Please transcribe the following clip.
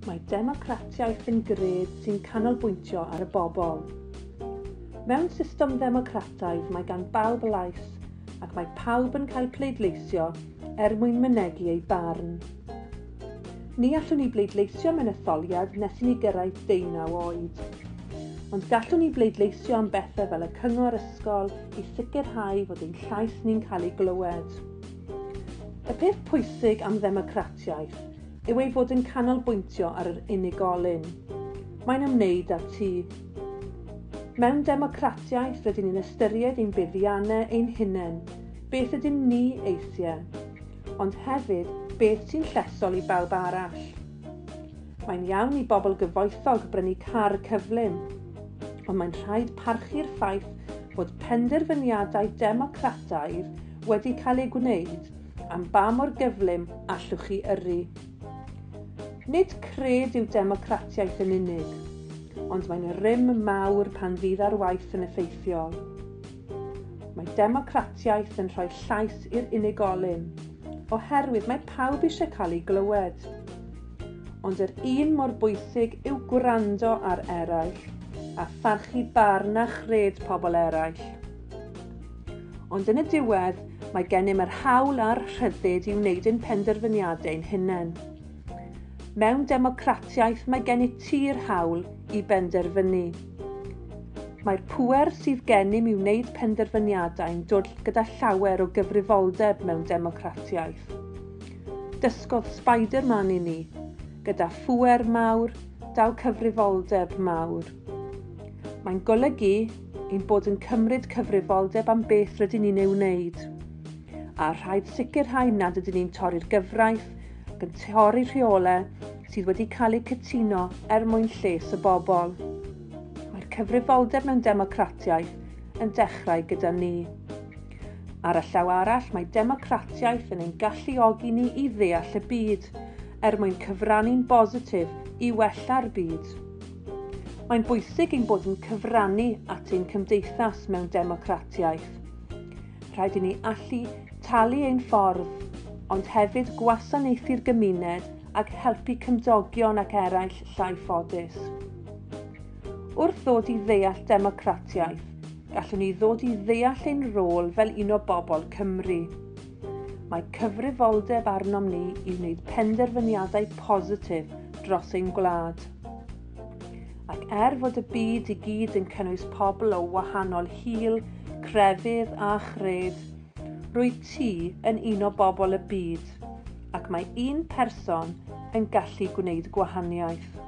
Mae democratiaeth yn gred sy'n canolbwyntio ar y bobl. Mewn system ddemocrataidd mae gan bawb lais ac mae pawb yn cael pleidleisio er mwyn mynegi ei barn. Ni allwn ni bleidleisio mewn etholiad nes i ni gyrraedd deunaw oed. Ond gallwn ni bleidleisio am bethau fel y cyngor ysgol, i sicrhau fod ein llais ni'n cael ei glywed. Y peth pwysig am ddemocratiaeth yw ei fod yn canolbwyntio ar yr unigolyn. Mae'n ymwneud â ti. Mewn democratiaeth rydyn ni'n ystyried ein buddiannau ein hunain, beth ydym ni eisiau, ond hefyd beth sy'n llesol i bawb arall. Mae'n iawn i bobl gyfoethog brynu car cyflym, ond mae'n rhaid parchu'r ffaith bod penderfyniadau democrataidd wedi cael eu gwneud am ba mor gyflym allwch chi yrru. Nid cred yw democratiaeth yn unig, ond mae'n rym mawr pan fydd ar waith yn effeithiol. Mae democratiaeth yn rhoi llais i'r unigolyn, oherwydd mae pawb eisiau cael ei glywed. ond yr un mor bwysig yw gwrando ar eraill a pharchu barn a chred pobl eraill. Ond yn y diwedd, mae gennym yr hawl a'r rhyddid i wneud ein penderfyniadau'n hunain. Mewn democratiaeth mae gennyt ti'r hawl i benderfynu. Mae'r pŵer sydd gennym i wneud penderfyniadau'n dod gyda llawer o gyfrifoldeb mewn democratiaeth. Dysgodd Spider-Man i ni, gyda phŵer mawr, daw cyfrifoldeb mawr. Mae'n golygu ein bod yn cymryd cyfrifoldeb am beth rydyn ni'n ei wneud. A rhaid sicrhau nad ydyn ni'n torri'r gyfraith, gan torri rheolau sydd wedi cael eu cytuno er mwyn lles y bobl. Mae'r cyfrifoldeb mewn democratiaeth yn dechrau gyda ni. Ar y llaw arall, mae democratiaeth yn ein galluogi ni i ddeall y byd, er mwyn cyfrannu'n bositif i wella'r byd. Mae'n bwysig ein bod yn cyfrannu at ein cymdeithas mewn democratiaeth. Rhaid i ni allu talu ein ffordd, ond hefyd gwasanaethu'r gymuned ac helpu cymdogion ac eraill llai ffodus. Wrth ddod i ddeall democratiaeth, gallwn ni ddod i ddeall ein rôl fel un o bobl Cymru. Mae cyfrifoldeb arnom ni i wneud penderfyniadau positif dros ein gwlad. Ac er fod y byd i gyd yn cynnwys pobl o wahanol hil, crefydd a chred, rwyt ti yn un o bobl y byd, ac mae un person yn gallu gwneud gwahaniaeth.